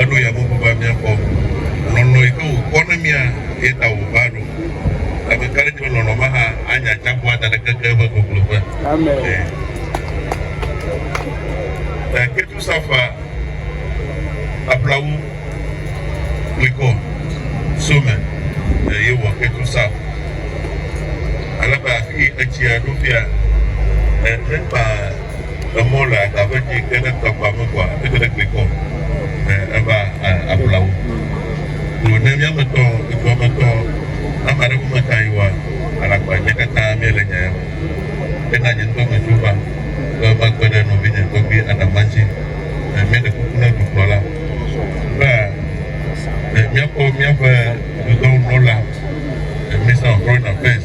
eɖo ya bubu be míakpɔ lɔlɔ̃ yi ke wòkpɔ na mía ye ta wòva ɖo. Ame ka ɖe di be lɔlɔ̃ ma hã anye atsiaƒua da ɖe keke eƒe gogloƒe? Ẽ, ketusafa, aƒlawu, klikɔ, some, eye wɔ ketusaf. Ale be afi etsia ɖo fia, ẽ, mekpa emɔ le aga ƒe dzi ke ne tɔ kpɔ ame kɔa eke ɖe klikɔ ne eva ablawo to ne miame tɔ etua me tɔ ama ɖe ƒome ta yi wa alakpa nye katã mie le nya ya me ke na nye ŋutɔ me tso va ke va kpe ɖe nɔvi nye tɔgbi adama dzi ne mie ɖe kuku ne dukplɔ la va ne miakpɔ miaƒe dudɔwo nɔ la misa ɔtrɔ na fɛs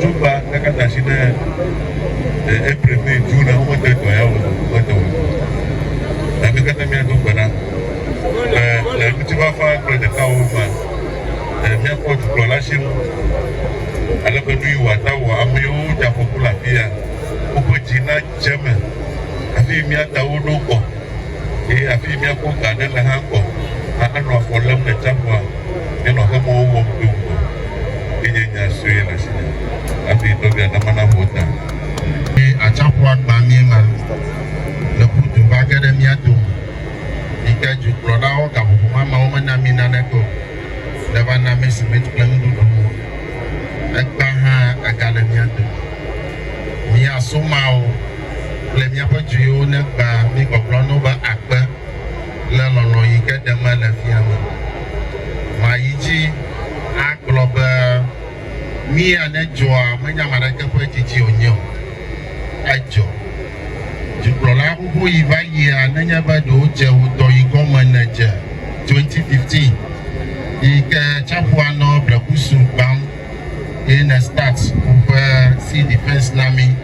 Zogba ɖaka da asi ne eh, April, May, June na womede dɔ ya o womede o. Na mi katã miado gbe ɖa le le ŋutifafa kple ɖekawo me eh, míakpɔ dukplɔla si ŋu ale be nu yi wòata wɔ ame yiwo dze afɔku le afia woƒe dzi nadze eme hafi mía tawo ɖo kɔ. Eye afii míakpɔ ga aɖe le hã ŋgɔ hã anɔ afɔ lém le tsiaƒua nye nɔ xemɔwo wɔm do ŋgɔ. Eye nye nya sue le asinye hafi tɔgbia nama naho ta. Eye atsiaƒua gbã mí ema le ƒudu va ge ɖe mía dome, yi ke dukplɔlawo gaƒoƒo ma mewo mena mí naneke o. Ɖe va na mí simiti kple nuɖuɖuwo. Egbã hã egale mía dome. Mía somawo. kple míaƒe dzuiwo negbã mí gbɔgblɔ no be akpe le lɔlɔ̃ yi ke ɖe me le fia me. Ma yi dzi agblɔ be mí ane dzɔa menye ame aɖeke ƒe didi wònye o. Edzɔ. Dukplɔla xoxo yi va yia nenye be ɖe wodze ŋutɔ yi gɔme ne dze 2015 yi ke tsaƒua nɔ blekusu gbãm ye ne start woƒe sea defense na mí.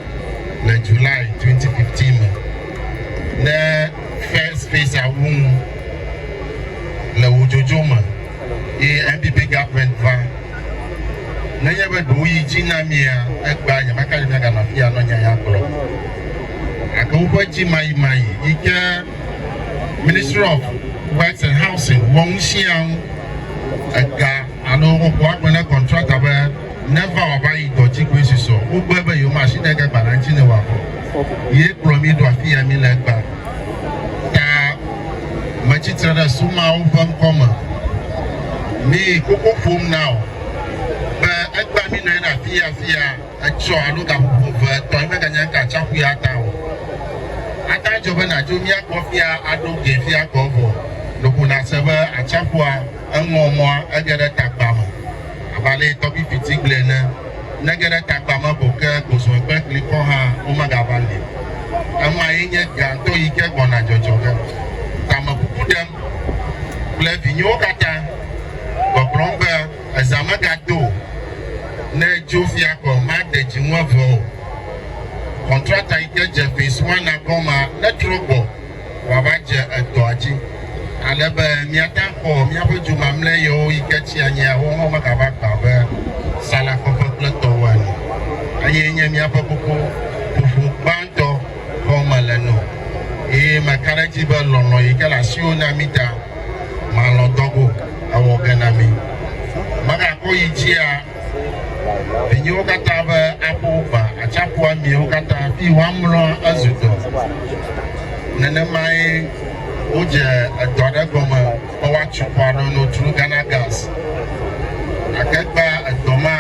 le July 2015 me ɖe First Face awu ŋu le wò dzodzo me eye NPP government va. Nenye be ɖewo yi dzi na mia, egbea nyemaka ɖe miaganɔ afi ya nɔ nya ya gblɔ. Gake woƒe dzimayimayi yi ke Ministry of Works and Housing wɔ ŋu sia ŋu ega alo woƒe agbe ne contractor be neva wòava yi dɔ dzi koe susɔ. Wogblɔe be yewomasi ne ge gbalẽa ŋuti ne wòavɔ. Ye kplɔ mí ɖo afi ya míle egbea. Ta metsi tre ɖe sumawo ƒe ŋkɔ me mi koko ƒom na wò be egbea mí nɔ anyi ɖe afi ya afi ya etsɔ alo gaƒoƒo eve etɔ̃ meganye ŋka atsiaƒu ya ta o. Ate adzɔ be nàdzo mía gbɔ fia aɖo gee fia gbɔ vɔ loko nàse be atsiaƒua eŋɔ mɔa ege ɖe tagba me. Abe ale yi tɔbi fiti gblɔe ene, Ne ge ɖe tagba me ko ke gozɔe kple kli kɔ hã, womegava li o. Emae nye gãtɔ yi ke gbɔna dzɔdzɔ ge. Tamekuku ɖem kple vinyewo katã, gbɔgblɔm be, Ezã megado o. Ne dzo fia ko made dzi ŋu eve o. Kɔntrata yi ke dze ƒee sua na gɔmea netrɔ gbɔ. wòava dze edɔa dzi, ale be míate akpɔ míaƒe du mamlɛ yewo yi ke tsi anyi ya woawo hã megava gbã abe salakɔƒe kple tɔwo ene. Eye nye míaƒe koko ƒoƒo gbãtɔ xɔm mele nɔ. Eye meka ɖe edzi be lɔlɔ̃ yi ke le asiwò na mí ta, màlɔ̃ dɔ go, ewɔ ge na mí. Megakɔ yi dzia? Vinyewo katã be aƒo gbã atsiaƒua miewo katã fi woamlɔ ezu dɔ. Nenemae wodze edɔ aɖe gɔme be woatso xɔ aɖe no through Ghana Gas. Gake gbã edɔ ma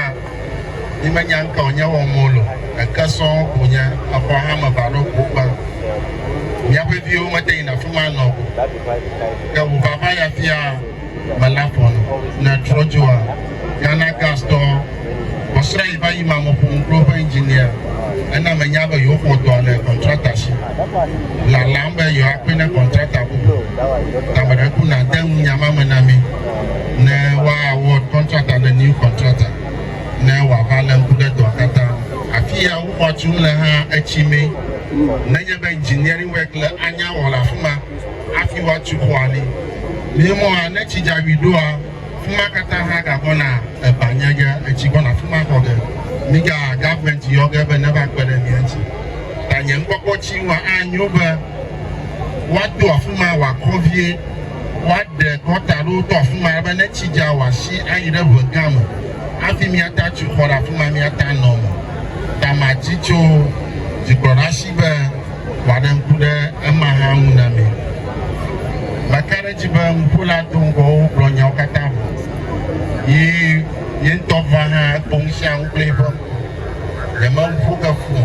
mi menya ŋka wonye wɔm wole o, eke sɔŋ ko nye, exɔ hã me va ɖo ko gbã. Miaƒe viwo mete yi na fima nɔ o. Ke wova va ya fia. Melanchthon le Trojoa, Ghana Gas tɔ. Kpɔsrã yi va yi ma me ƒom kple woƒe engineer. Ena menya be yewoxɔ dɔa le contractor si. Lalam be yewoakpe ne contractor bubu tameɖeku nade ŋunya ma me na mí ne woa award contractor le new contractor ne wòava le ŋku ɖe dɔa katã ŋu. Afi ya woxɔa tum le hã etsi mee. Nenye be engineering work le anya wɔ le afi ma. hafi woatu xɔa li. Nɛ mɔa, ne tsi dza ʋui ɖoa, fima katã hã gagbɔna eba nye ge, etsi gbɔna fima kɔ ge. Mi ga government yɔ ge be neva kpe ɖe mía ŋuti. Ta nye ŋkpɔkpɔ tsi ŋua anyo be woa do afima wa kɔ vie, woa ɖe gɔta ɖo to afima ale be ne tsi dza wa si ayi ɖe ʋe gã me hafi mía ta tu xɔ ɖe afima mía ta nɔ me. Ta ma dzi tso dzikplɔɖa si be. wòaɖe ŋku ɖe ema hã ŋu na mi. Meka ɖe edzi be nuƒola do ŋgɔwo gblɔ nyawo katã vɔ, yi ye ŋutɔ va hã ekpɔ nu sia nu kple eƒe ŋku. Nyemeƒo ke fu o.